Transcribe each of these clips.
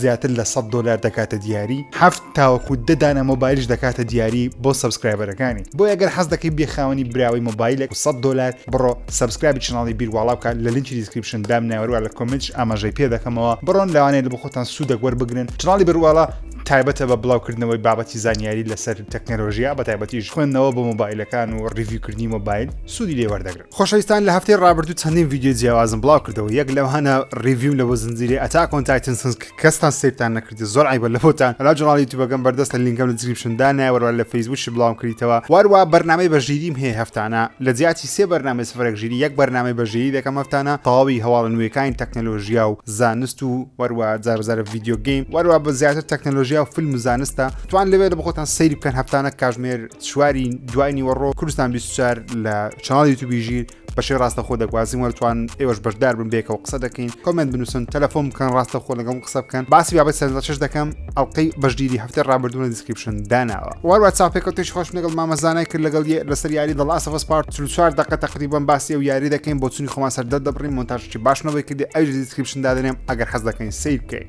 زیاتر لە سەد دۆلار دەکاتە دیاری هەفت تاوەکو دە دانە مۆبایلش دەکاتە دیاری بۆ سەبسکرایبەرەکانی بۆ ئەگەر حەز دەکەی بێ خاوەنی براوەی مۆبایلێک و سەد دۆلار بڕۆ سەبسکرایبی چناڵی بیرواڵا بکە لە لینکی دیسکریپشن دام ناوەروە لە کۆمنتش ئاماژەی پێ دەکەمەوە بڕۆن لەوانەیە لە بۆ خۆتان سوودەک وەربگرن چناڵی بەرواڵا تایبەتە بە بڵاوکردنەوەی بابەتی زانیاری لەسەر تەکنەلۆژیا بە تایبەتیش خوێندنەوە بۆ مۆبایلەکان و ڕیڤیوکردنی مۆبایل سوودی لێوەردەگرن خۆشەویستان لە هەفتەی ڕابردوو چەندین ڤیددیو جیاوازم بڵاو کردەوە یەک لەوانە ڕیڤیم لە بۆ زنجیری ئەتاکۆن تایتنسنس کەستان سیرتان نەکردی زۆر عیبە لە بۆتان لا جناڵی توبەکەم بەردەستە لینکەم لە دیسکریپشن دانایە وەروە لە فەیسبووکی بڵاوم کردیتەوە وارووا بەرنامەی بە ژیریم هەیە هەفتانە لە جیاتی سێ بەرنامەی سفرێک ژیری یەک بەرنامەی بە ژیری دەکەم هەفتانە تەواوی هەواڵە نوێکانی تەکنەلۆژیا و زانست و وەروە جار جارە ڤیددیو گەیم وەروە بە زیاتر تەکنەلۆژیا و فیلم و زانستە توان لەوێ لە بخۆتان سەیری بکەن هەفتانە کاژمێر چواری دوای نیوەڕۆ کوردستان 24 لە چناڵ یوتوبی ژیر بەشی ڕاستەخۆ دەگوازین وەرتوان ئێوەش بەشدار بن بێکەوە قسە دەکەین کۆمنت بنووسن تەلەفۆن بکەن ڕاستە خۆ لەگەڵ قسە بکەن باسی بابەت سەرش دەکەم ئەڵلقەی بەشگیری هەفتە ڕابردوونە دیسکرپشن داناوە واروا چاپێکەوە تێش خۆش لەگەڵ مامەزانای کرد لەگەڵ لەسەر یاری دەڵاسەفەس پارت چوار دقە تقریبان باسی ئەو یاری دەکەین بۆ چنی خۆمان سەردە دەبڕین مۆنتاژی باشمەوەی کردی ئەوش دیسکرپشن دادنێم ئەگەر حەز دەکەین سیر بکەین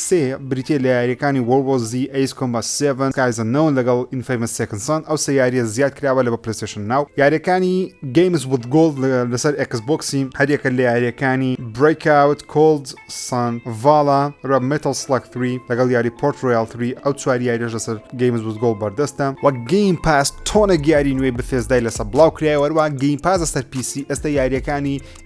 سێ، بریتییە لە یارییەکانی وۆرڵد وۆر زی، ئەیس کۆمبات سێڤن، سکایز ئەننۆون لەگەڵ ئینفەیمەس سێکند سان، ئەو سێ یارییە زیاد کراوە لە بۆ پلەیستەیشن ناو. یارییەکانی گەیمز ویز گۆڵد لەسەر ئێکس بۆکسی، هەریەکە لە یارییەکانی برەیک ئاوت، کۆڵد سان، ڤالا رە، مێتەڵ سڵەگ ثری لەگەڵ یاری پۆرت رۆیاڵ ثری، ئەو چوار یارییەش لەسەر گەیمز ویز گۆڵد بەردەستە. و گەیم پاس تۆنێک یاری نوێی بثێسدای لەسە بڵاو کرایەوە، هەروەها گەیم پاس لەسەر پیسی ئێستا یارییەکانی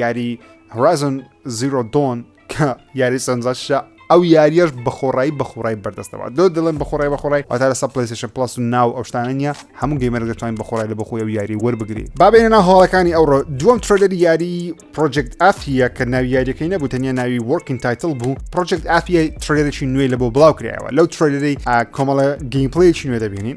یاری هۆرازن زیرۆ دۆن کە یاری سەنجاشە ئەو یاریش بەخۆڕایی بەخۆڕای بەردەستەوە دۆ دڵم بەخۆڕای بەخۆڕای ئەتا لە سەپلسیشن پلس و ناو ئەوشتانە نیە هەموو گەیمەرە دەتوانین بەخۆڕای لە بەخۆی و یاری وەربگری بابێنە هاڵەکانی ئەوڕۆ دووەم ترۆدەر یاری پرۆجێکت ئافە کە ناوی یاریەکەی نەبوو تەنیا ناوی وەرکین تایتل بوو پرۆجێکت ئافە ترێرێکی نوێ لە بۆ بڵاو کرایەوە لەو ترۆدەری کۆمەڵە گەیمپلەیەکی نوێ دەبینین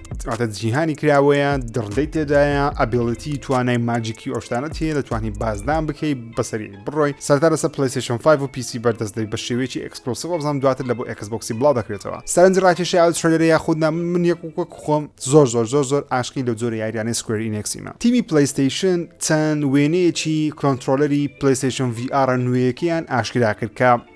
واتە جیهانی کراوەیە دڕدەی تێدایە ئەبیڵەتی توانای ماجیکی ئۆشتانە تێ دەتوانانی بازدان بکەیت بەسەری بڕۆی سەرتا لەسە پلیسشن 5 و پیسی بەردەست دەی بە شێوەیەکی ئەکسپلسیڤ بزانام دواتر لە بۆ ئەکسبکسی بڵاو دەکرێتەوە سەرنج ڕاکێشی ئاو شەرە یا خودنا من یەک وەک خۆم زۆر زۆر زۆر زۆر ئاشقی لە زۆر یاریانەی سکوێر ئینکسیمە تیمی پلیستیشن چەند وێنەیەکی کۆنتترۆلەری پلیستیشن VR نوێیەکەیان ئاشکرا کرد کە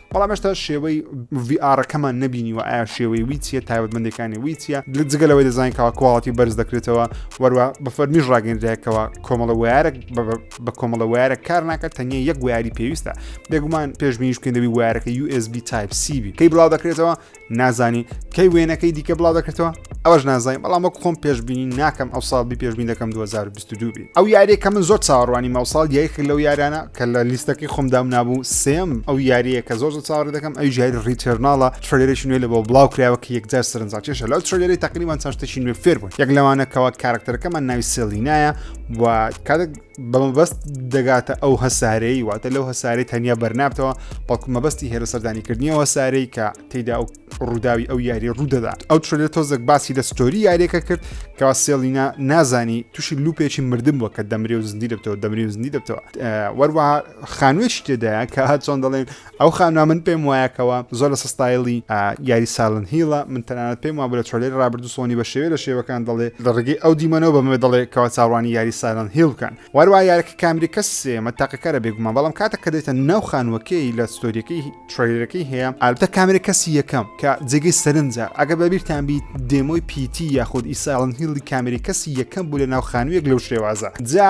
بەڵام هێشتا شێوەی VR ەکەمان نەبینیوە ئایا شێوەی وی چیە تایبەتمەندەکانی وی چیە جگە لەوەی دەزانین کەوا کواڵەتی بەرز دەکرێتەوە وەروە بە فەرمیش ڕاگەندراکەوە کۆمەڵە وارە بە کۆمەڵە وارە کار ناکات تەنیا یەک واری پێویستە بێگومان پێشبینیش بکەین دەبی وارەکە USB تایپ سیبی کەی بڵاو دەکرێتەوە نازانی کەی وێنەکەی دیکە بڵاو دەکردەوە ئەوەش نازای بەڵام وەک خۆم پێشببینی ناکەم ئەو ساڵ بی پێشبین دەکەم 2022 بی ئەو یاریە کە من زۆر چاوەڕوانی ماوساڵ یەک لەو یارانە کە لە لیستەکەی خۆمدام نابوو سم ئەو یاریە کە زۆر زۆر چاوەڕ دەکەم ئەو ژاری ڕیتێرناڵە ترلێرش نوێ لە بۆ بڵاو کراوە کە یەکجار سەرنجا چێشە لەو ترلێری تقریبان چاشتەشی نوێ فێر بوون یەک لەوانەکەەوە کارکتەرەکەمان ناوی سێلینایە و کاتێک بەمەبەست دەگاتە ئەو هەسارەی واتە لەو هەسارەی تەنیا بەرنابتەوە بەڵکو مەبەستی هێرە سەردانیکردنیەوە سارەی کە تێدا ئەو ڕووداوی ئەو یاری ڕوودەدات ئەو ترلە تۆزێک باسی لە ستۆری یاریەکە کرد کەوا سێڵینا نازانی تووشی لوپێکی مردم بووە کە دەمری و زندی دەبتەوە دەمری و زندی دەبتەوە وەروەها خانوێکی تێدایە کە هەچۆن دەڵێن ئەو خانمە من پێم وایە کەوا زۆر لەسە ستایلی یاری سالن هیڵە من تەنانەت پێم وابوو لە چۆلێری ڕابردوو سۆنی بە شێوێ لە شێوەکان دەڵێ لە ڕێگەی ئەو دیمەنەوە بەمێ دەڵێ کەوا چاڕوانی یاری سالن هیڵ بکەن واروا یارەکە کامری کەس سێمە تاقەکارە بێگومان بەڵام کاتە کە دێتە ناو خانوەکەی لە ستۆریەکەی تریلەکەی هەیە ئالبتە کامری کەسی یەکەم کە جێگەی سەرنجە ئەگە بەبییران بیت دێمۆی پیتی یاخود ئیساڵن هیڵی کامری کەسی یەکەم بوو لە ناو خانوویەک لەو شێوازە جا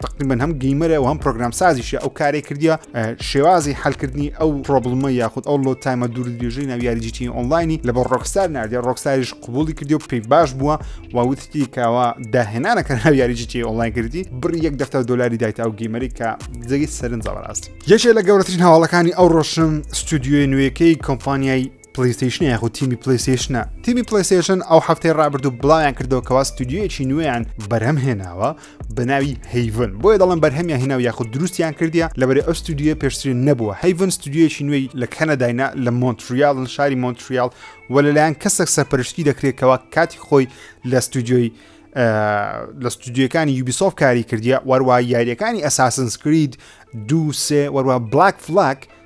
تقریبن هەم گەیمەرە و هەم پرۆگرام سازیشە ئەو کارێک کردیە شێوازی حلکردنی ئەو پرۆبلمە یاخود ئەو لۆ تایمە دوور درێژەی ناو یاریجیتی ئۆنلاینی لە بە ڕۆکستار نردە ڕۆکساریش قوبولی کردی و پێی باش بووە و وتتی کاوە داهێنانەکە ناو یاریجیتی ئۆنلاین کردی بڕی یەک دەفتە دلاری دایت ئەو گەیمەری کە جگی سەرنجڕاست یەکێ لە گەورەترین هەواڵەکانی ئەو ڕۆشن ستودیوی نوێیەکەی کۆمپانیای پلەیستەیشنە یاخود تیمی پلەیستەیشنە؟ تیمی پلەیستەیشن ئەو هەفتەی ڕابردوو بڵاویان کردەوە کەوا ستودیۆیەکی نوێیان بەرهەم هێناوە بە ناوی هەیڤن بۆیە دەڵم بەرهەمیان هێناو یاخود دروستیان کردیا لەبەرێ ئەو ستودیۆ پێشترین نەبووە هەیڤن ستودیۆیەکی نوێی لە کەنەداینا لە مۆنتریالن شاری مۆنتریال و لەلایەن کەسێک سەرپەرشتی دەکرێتەوە کاتی خۆی لە ستودیۆی لە ستودیوەکانی یوبیسۆف کاری کردیە وەروە یاریەکانی ئەساسنسکرید دووسێ وەروە بلاک فلاک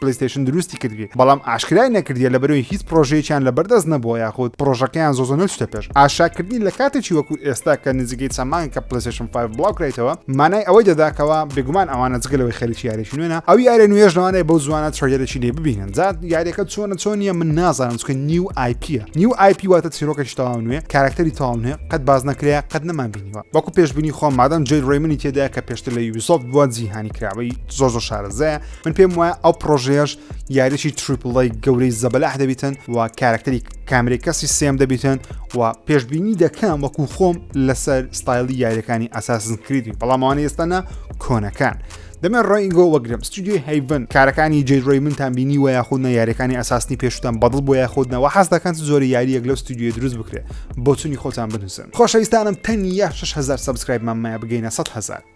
پلەیستەیشن دروستی کردبێ بەڵام ئاشکرای نەکردیە لەبەرەوەی هیچ پرۆژەیەکیان لە بەردەست نەبووە یاخود پرۆژەکەیان زۆزە نەچتە پێش ئاشاکردنی لە کاتێکی وەکو ئێستا کە نزیکەی چەمانگ کە پلەسێشن 5 بڵاوکرێتەوە مانای ئەوەی دەداکەوە بێگومان ئەوانە جگەلەوەی خەریکی یاریش نوێنە ئەو یارە نوێژ لەوانەیە بەو زوانە چۆیەرەی لێ ببینن زات یاریەکە چۆنە چۆنیە من نازانم چکە نیو آیپە نیو آیپی واتە چیرۆکەش تەواو نوێ کارکتەری تەواو نوێ قەت باز نەکرێ قەت نەمان بینیوە وەکو پێشببینی خۆم مادەم جێ ڕێمنی تێدا کە پێشتر لە یوبیسۆفت بووە جیهانی کراوەی زۆر زۆر شارەزەیە من پێم وایە ئەو پرۆژەیەش یاریی تریپڵی گەورەی زەبەلاح دەبیتن و کارکتەری کامری کەسی سێم دەبیتن و پێشببینی دەکەم وەکو خۆم لەسەر ستایلی یاریەکانی ئاساسن کریدی بەڵاموانە ئێستانە کۆنەکان. دەمێ ڕێنگۆ وەگرم ستودیۆی هەیڤن کارەکانی جێرۆی منتان بینی وە یاخود نە یاریەکانی ئاساسنی پێشتان بەدڵ بۆ یاخودنەوە حەز دەکەن زۆری یاریەک لەو ستودیۆ دروست بکرێت بۆچونی خۆتان بنووسن خۆشەویستانم تەنیا 6هزار سبسکرایبمان مایە بگەینە 100هزار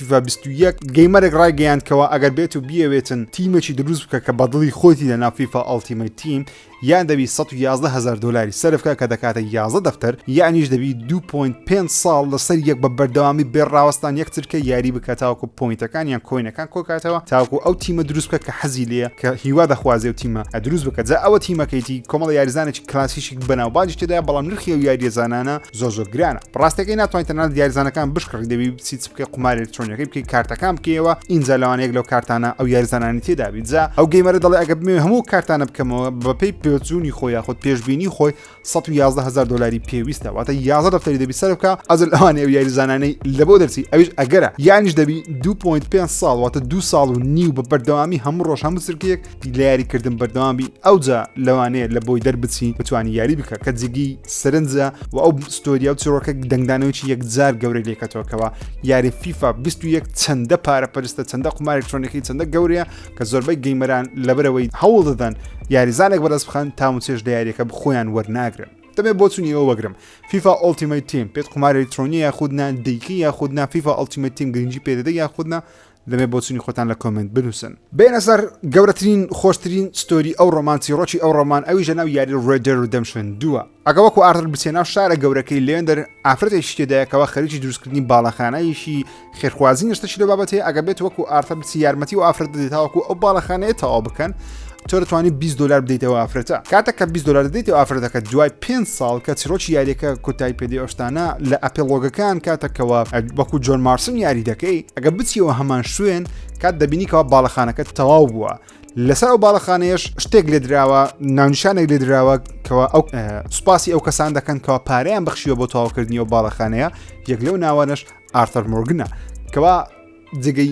فیفا بیست و یەک، گەیمەرێک ڕایگەیاند کەوا ئەگەر بێت و بیەوێتن تیمێکی دروست بکە کە بەدڵی خۆیتی لەناو فیفا ئەڵتیمەیت تیم یان دەبی سەد و یازدە هەزار دۆلاری سەرفکە کە دەکاتە یازدە دەفتەر یانیش دەبی دوو پۆینت پێنج ساڵ لەسەر یەک بە بەردەوامی بێ ڕاوەستان یەکترکە یاری بکە تاوەکو پۆینتەکان یان کۆینەکان کۆکاتەوە تاوەکو ئەو تیمە دروست بکە کە حەزی لێیە کە هیوا دەخوازێ و تیمە ئەدروست بکە جا ئەوە تیمەکەیتی کۆمەڵە یاریزانێکی کلاسیکی بەناوبانگی تێدایە بەڵام نرخی ئەو یاریزانانە زۆر زۆر گرانە ڕاستەکەی ناتوانین تەنها دیارزانەکان بشکڕی دەبی بچی چ بکە قمار ئەلکترۆنیەکەی بکەی کارتەکان بکەیەوە ئینجا لەوانەیەک لەو کارتانە ئەو یارزانانی تێدا بیجا ئەو گەیمەرە دەڵێ ئەگە بمێ هەموو کارتانە بکەمەوە بەپی پێچوونی خۆ یاخود پێشببینی خۆی 11هزار دلاری پێویستە واتە یازە دەفتەری دەبی سەر بکە ئەز ئەوانێ و یاریزانانەی لە بۆ دەرچی ئەوش ئەگەرە یانیش دەبی 2.5 ساڵ واتە دو ساڵ و نیو بە بەردەوامی هەموو ڕۆژ هەموو سرکێک لە یاریکردن بەردەوام بی ئەوجا لەوانەیە لە بۆی دەربچی بتوانانی یاری بکە کە جگی سرنجە و ئەو ستۆریا و چڕۆکە دەنگدانەوەی یەکجار گەورەی لێکەتەوەکەوە یاری فیفا 21 چەندە پارە پرستە چەندە قمارێکترۆنەکەی چەندە گەورەیە کە زۆربەی گەیمەران لەبەرەوەی هەوڵ دەدەن یاریزانێک بەرز بخەن تاون چێش لە یاریەکە بخۆیان وەرناگرن دەبێت بۆ چونی ئەوە بەگرم فیفا ئۆلتیمەی تیم پێت قماری ترۆنی یاخودنا دیکی یاخودنا فیفا ئەلتیمەتیم گرنگی پێدەدە یاخودنا دەمێ بۆچونی خۆتان لە کۆمێنت بنوسن. بێنە سەر گەورەترین خۆشترین ستۆری ئەو ڕۆمان چیڕۆکی ئەو ڕۆمان ئەویش لەناو یاری ڕێد دێد ڕیدەمشن دووە ئەگە وەکو ئارتر بچیە ناو شارە گەورەکەی لێندەر ئافرەتێکی تێدایە کەوا خەریکی دروستکردنی باڵەخانەیەکی خێرخوازی نەشتەکی لەو بابەتەیە ئەگە بێت وەکو ئارتر بچی یارمەتی و ئافرەت دەدی تاوەکو ئەو باڵەخانەیە تەواو بکەن تۆ دەتوانیت 20 دلار بدەیتەوە ئافرەتە کاتە کە 20 دلار دەدەیتەوە ئافرەتەکە دوای 5 ساڵ کە چرۆکی یاریەکە کۆتایی پێدی ئەوشتانە لە ئەپلۆگەکان کاتەکەەوە وەکو جۆن مارسن یاری دەکەی ئەگە بچیەوە هەمان شوێن کات دەبینیکەوە باڵەخانەکە تەواو بووە لەسەر ئەو باڵەخانەیەش شتێک لێ دراوە ناونشانێک لێ دراوە کەەوە ئەو سوپاسی ئەو کەسان دەکەن کەەوە پاریان بخشیوە بۆ تەواوکردنی و باڵەخانەیە یەک لەو ناوانش ئارتەر مۆرگنە کەوا جگەی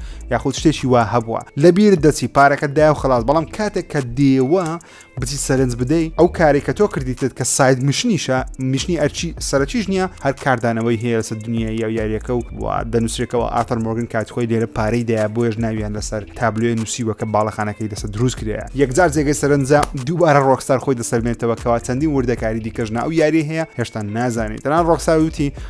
یاخود شتێکی وا هەبووە لەبیرت دەچی پارەکەت داو خلاص بەڵام کاتێک کە دێوە بچی سەرنج بدەی ئەو کارێک کە تۆ کردیتت کە ساید مشنیشە مشنی ئەرچی سەرچیش نییە هەر کاردانەوەی هەیە لەسەر دنیای یا یاریەکە و دەنووسێکەوە ئاتەر مۆرگن کات خۆی لێرە پارەی دایا بۆیش ناویان لەسەر تابلوێ نووسیوە کە باڵەخانەکەی لەسەر دروست کرێ یەکجار جێگەی سەرنجە دووبارە ڕۆکسار خۆی دەسەرمێتەوە کەوا چەندی وردەکاری دیکەژنا ئەو یاری هەیە هێشتا نازانێت تەنان ڕۆکساوتی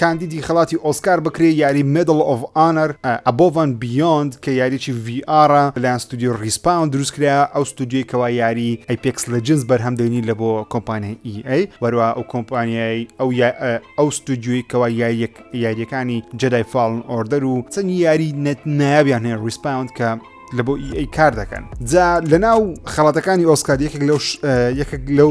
کاندیدی خەڵاتی ئۆسکار بکرێ یاری مێدڵ ئۆف ئانەر ئەبۆڤ ئەند بیۆند کە یاریی ڤی ئاڕە لەلایەن ستۆدیۆی ڕیسپاون دروست کرایە ئەو ستۆدیۆی کەوا یاری ئەیپێکس لێجنز بەرهەم دێنی لە بۆ کۆمپانیای ئی ئەی وەروە ئەو کۆمپانیای ئەو ئەو ستۆدیۆی کەوا یاریەک یاریەکانی جەدای فاڵن ئۆردەر و چەند یاری نەت نایابیان هەیە ڕیسپاوند کە لە بۆ ئی ئەی کار دەکەن جا لەناو خەڵاتەکانی ئۆسکار یەکێک لەو یەکێک لەو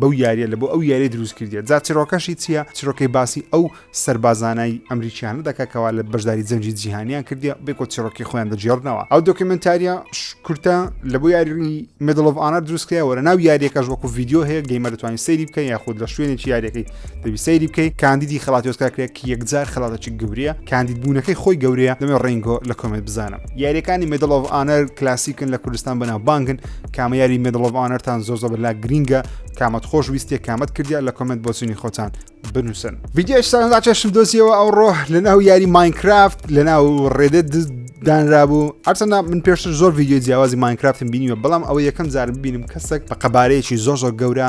بەو یاریە لە بۆ ئەو یاریە دروست کردیە جا چرۆکەشی چییە چرۆکەی باسی ئەو سەربازانای ئەمریکیانە دەکە کەوا لە بەشداری جەنجی جیهانیان کردیە بێکۆ چرۆکی خۆیان دەجێڕنەوە ئەو دۆکیمنتاریە کورتە لە بۆ یاری مدلڤانە دروستکەیەوە لە ناو یاریەکەش وەکو یددیو هەیە گەیمە دەتوانین سەیری بکە یاخود لە شوێنێکی یاریەکەی دەبی سەیری بکەی کاندیدی خڵاتی ئۆسکار کرێک یەکجار خڵاتەچی گەورەیە کاندید بوونەکەی خۆی گەورەیە دەمێ ڕینگۆ لە کۆمێت بزانم یاریەکانی مدل of ئانەر کلاسیکن لە کوردستان بەناو بانگن کامە یاری مدل of ئانەرتان زۆر زۆر لا گرینگە کامەت خۆش ویستێک کامەت کردیا لە کۆمنت بۆچوونی خۆتان بنووسن ڤیددیش سەردا چێشم دۆزیەوە ئەو ڕۆ لە ناو یاری ماینکرافت لە ناو ڕێدە دانرابوو ئەرچەندا من پێشتر زۆر ڤیددیو جیاوازی ماینکرافتم بینیوە بەڵام ئەوە یەکەم جار ببینم کەسێک بە قەبارەیەکی زۆر زۆر گەورە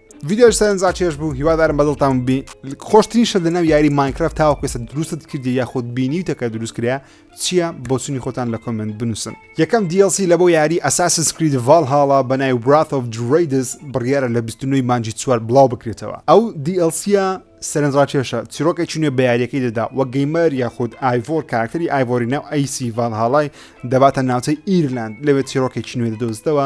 ڤیددیۆش سەرنجا چێش بوو هیوادارم بەدڵتان بی خۆشترین شت لەناو یاری ماینکرافت تاوە پێسە دروستت کردی یاخود بینیوتەکە دروست کرا چییە بۆچنی خۆتان لە کۆمنت بنووسن یەکەم DLC لە بۆ یاری ئەساسن سکرید ڤال هاڵا بەنای برات of درێدس بڕیارە لە 29 مانجی چوار بڵاو بکرێتەوە ئەو دیLCە سەرنجڕاکێشە چیرۆکە چینێ بە یاریەکەی دەدا وە گەیمەر یاخود ئایڤۆر کاراکتەری ئایڤۆری ناو ئەیسی ڤال هاڵای دەباتە ناوچەی ئیرلاند لەوێت چیرۆکێکی نوێ دەدۆزتەوە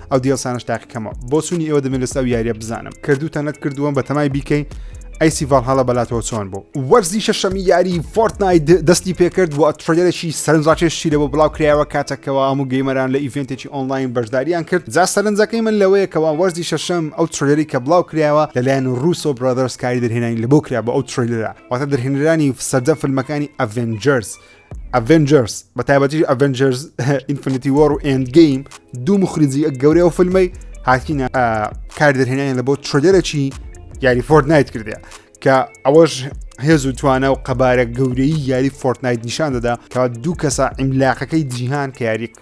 ئەو دیێلسانەش تاقیکەمەوە بۆ چونی ئێوە دەمێن لەسا و یاریە بزانم کردوتە نەت کردووەم بە تەمای بیکەین ئەیسی ڤال هەڵە بەلاتەوە چۆن بوو وەرزی شەشەمی یاری فۆرتنای دەستی پێکرد و ترێلێکی سەرنجڕاکێشی لەوە بڵاو کرایەوە کاتەکەەوە هەموو گەیمەران لە ئیڤێنتێکی ئۆنلاین بەشداریان کرد جا سەرنجەکەی من لەوەیەکەوە وەرزی شەشەم ئەو ترێلەری کە بڵاو کرایەوە لەلایەن رووسۆ برادرس کاری دەرهێنانی لە بۆ کرا بە ئەو ترێلەرە واتە دەرهێنرانی سەردە فیلمەکانی ئەڤێنجرس ئەڤێنجەرس بە تایبەتی ئەڤێنجەرس ئینفنیتی وەڕ و ئند گەیم دوو مخریجی ئە گەورەی و فیلمی هاتینە کار دەرهێنانی لە بۆ ترۆدێرەی یاری فۆرد نایت کردە کە ئەوەش هێز و توانە و قەبارە گەورەی یاری فۆرتنایت نیشان دەدا کە دوو کەسە ئیملاقەکەی جیهان کە یاری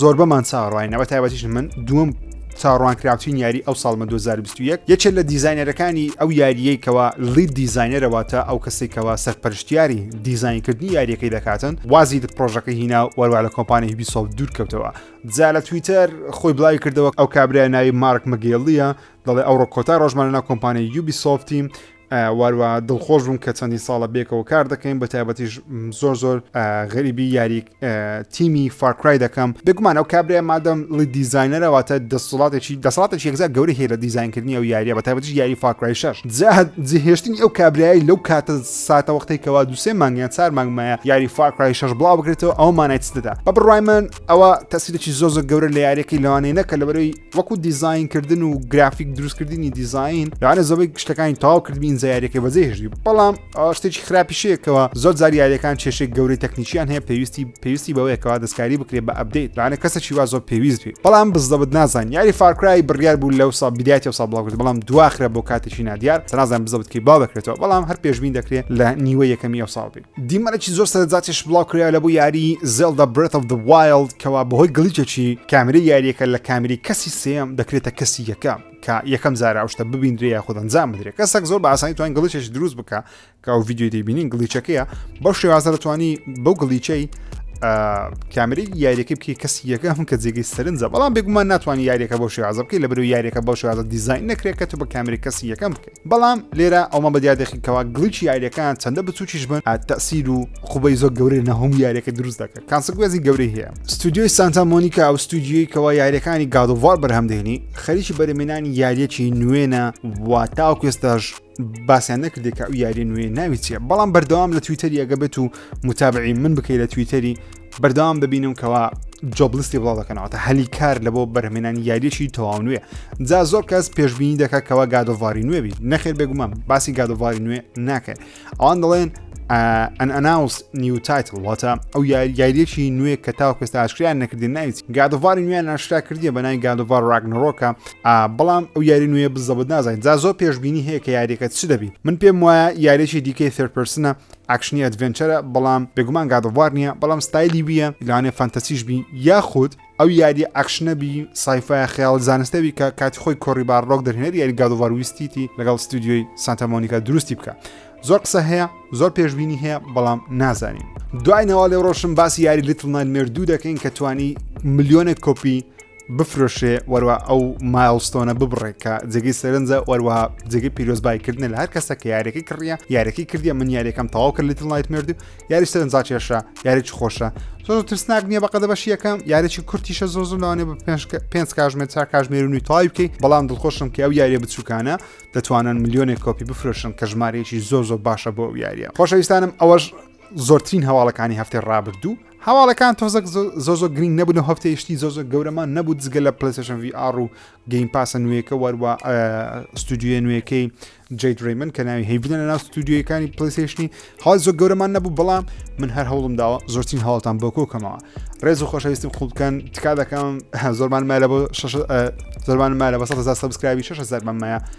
زۆربەمان چاڕواینە بە تایبەتیش من دوم چاڕوانکراوترین یاری ئەو ساڵمە 2021 یەکێت لە دیزینەرەکانی ئەو یاریەکەوە لی دیزینەرەواتە ئەو کەسێکەوە سەرپەرشتیاری دیزینکردنی یاریەکەی دەکاتن وازی پرۆژەکە هینا وەروە لە کۆمپانی هیبیسۆف دوور کەوتەوە جا لە تویتەر خۆی بڵاوی کردەوە ئەو کابرای ناوی مارک مەگەڵیە دەڵێ ئەوڕۆ کۆتا ڕۆژمانە کۆمپانی یوبی سۆفتیم واروا دڵخۆش بووم کە چەندین ساڵە بێکەوە کار دەکەین بە تایبەتیش زۆر زۆر غەریبی یاری تیمی فارکرای دەکەم بێگومان ئەو کابرای مادەم ڵی دیزینەرەواتە دەسڵاتێکی دەسڵاتێکی یەکزار گەورە هەیە لە دیزینکردنی ئەو یاریە بە تایبەتیش یاری فارکرای شەش جهێشتنی ئەو کابرایی لەو کاتە ساتە وەختەی کەوا دووسێ مانگیان چار مانگمایە یاری فارکرای شەش بڵاو بکرێتەوە ئەو مانای چ دەدا بە بڕای من ئەوە تەسیرێکی زۆر زۆر گەورە لە یاریەکەی لەوانەیە نەکە لەبەرەوەی وەکو دیزین کردن و گرافیک دروستکردنی دیزین یانە زەوەی شتەکانی تاو کردبی ئینجایارەکە بەجێهێشتی بەڵام شتێکی خراپیشەیەکەوە زۆر زاریارەکان کێشێک گەورەی تەکنیکیان هەیە پێویستی پێویستی بەوەیەکەوە دەستکاری بکرێت بە ئەبدەیت لانە کەسێکی وا زۆر پێویست بێ بەڵام بزدەبت نازان یاری فارکرای بڕیار بوو لەو سا بدایەتی و سابڵاوکرد بەڵام دواخرە بۆ کاتێکی نادیار سەنازان بزەبتکی باو دەکرێتەوە بەڵام هەر پێشبین دەکرێت لە نیوە یەکەمی ئەو ساڵ بێت دیمەنێکی زۆر سەرجاتیش بڵاو کرا لە بۆ یاری زێلدا برێت of the Wild کەوا بەهۆی گڵیچێکی کامری یاریەکە لە کامری کەسی سێم دەکرێتە کەسی یەکەم کە یەکەم زارا شتە ببینرێ یا خۆدەن زان بدرێت کەسێک زۆر باسانی توان گڵیچێکی دروست بکە کە ئەو ویددیو دەبینین گڵیچەکەیە بەو شێوازە دەتوانی بەو گڵیچەی کامری یاریەکە بکە کەسی یەکە هەم کە جێگەی سەرنجە بەڵام بێگومان ناتوانانی یاریەکە بۆ شێوازە بکەی لە برو یاریەکە بۆ شێوازە دیزین نەکرێت کە تو بە کامری کەسی یەکەم بکەی بەڵام لێرە ئەومان بە دیار دەخین کەوا گڵیچ یاریەکان چەندە بچوکیش بن تەسیر و خوبەی زۆر گەورەی لە هەموو یاریەکە دروست دەکە کانسگوێزی گەورەی هەیە ستودیۆی سانتا مۆنیکا ئەو ستودیۆی کەوا یاریەکانی گادوار بەرهەم دێنی خەریکی بەرەمێنانی یاریەکی نوێنە و تاوکێستاش باسیان نەکردێک کە ئەو یاری نوێ ناوی چیە بەڵام بەردەوام لە تویتەری ئەگە بێت و متابعی من بکەی لە تویتەری بەردەوام دەبینم کەوا جۆبلیستی بڵاو دەکەنەوەتە هەلی کار لە بۆ بەرهمێنانی یاریەکی تەواو نوێ جا زۆر کەس پێشببینی دەکە کەوا گادۆڤاری نوێ بیت نەخێر بێگومان باسی گادۆڤاری نوێ ناکەن ئەوان دەڵێن ئەن ئەناوس نیو تایتل واتە ئەو یاریەکی نوێ کە تاو کەستا ئاشکریان نەکردی ناویت گادۆڤاری نوێیان ناشرا کردی بە نای گادۆڤار ڕاگنەڕۆکە بەڵام ئەو یاری نوێ بزەبت نازانین جا زۆر پێشببینی هەیە کە یاریەکە چ دەبی من پێم وایە یاریەکی دیکەی ثرپرسنە ئەکشنی ئەدڤێنچەرە بەڵام بێگومان گاد ئۆف وار نییە بەڵام ستایلی وییە لەوانەیە فانتەسیش بی یاخود ئەو یاریە ئەکشنە بی سایفایە خەیاڵ زانستە بی کە کاتی خۆی کۆری باڕۆک دەرهێنەری یاری گاد ئۆف وار ویستیتی لەگەڵ ستودیۆی سانتا مۆنیکا دروستی بکە زۆر قسە هەیە زۆر پێشببینی هەیە بەڵام نازانین دوای نەوە لێ ڕۆشن باسی یاری لیتڵ نایمێر دوو دەکەین کە توانی ملیۆنێک کۆپی بفرۆشێ وەروە ئەو مایلستۆنە ببڕێ کە جێگەی سەرنجە وەروە جێگەی پیرۆزبایکردنە لە هەر کەسە کە یارەکەی کڕە یارەکەی کردیە من یاریەکەم تەواو کرد لەتن لایت مرد و یاری سەرنجا کێشە یاریی خۆشە زۆ ترسناک نییە بەقەدە بەشیەکەم یارێکی کورتیشە زۆ زۆ لەوانێ بە پێ کاژمێر چا کاژمێر و تای بکەی بەڵام دڵخۆشم کە ئەو یاریە بچووکانە دەتوانن میلیۆنێک کۆپی بفرۆشن کە ژمارەیەکی زۆ زۆ باشە بۆ ئەو یاریە خۆشەویستانم ئەوەش زۆرترین هەواڵەکانی هەفتەی ڕابردوو هەواڵەکان تۆزەک زۆر زۆر گرنگ نەبوون و هەفتەی شتی زۆر زۆر گەورەمان نەبوو دزگە لە پلسشن VR و گەیم پاسە نوێیەکە وەروە ستودیوە نوێیەکەی جیت ریمن کە ناوی هەیبدە لە ناو ستودیوەکانی پلیسشنی هەڵ زۆر گەورەمان نەبوو بەڵام من هەر هەوڵم داوە زۆرترین هەوڵتان بۆ کۆکەمەوە ڕێز و خۆشەویستم خوبکەن تکا دەکەم زۆرمان مایە بۆ زۆرمان مایە بە 100 سەبسکرابی 6 زەرمان مایە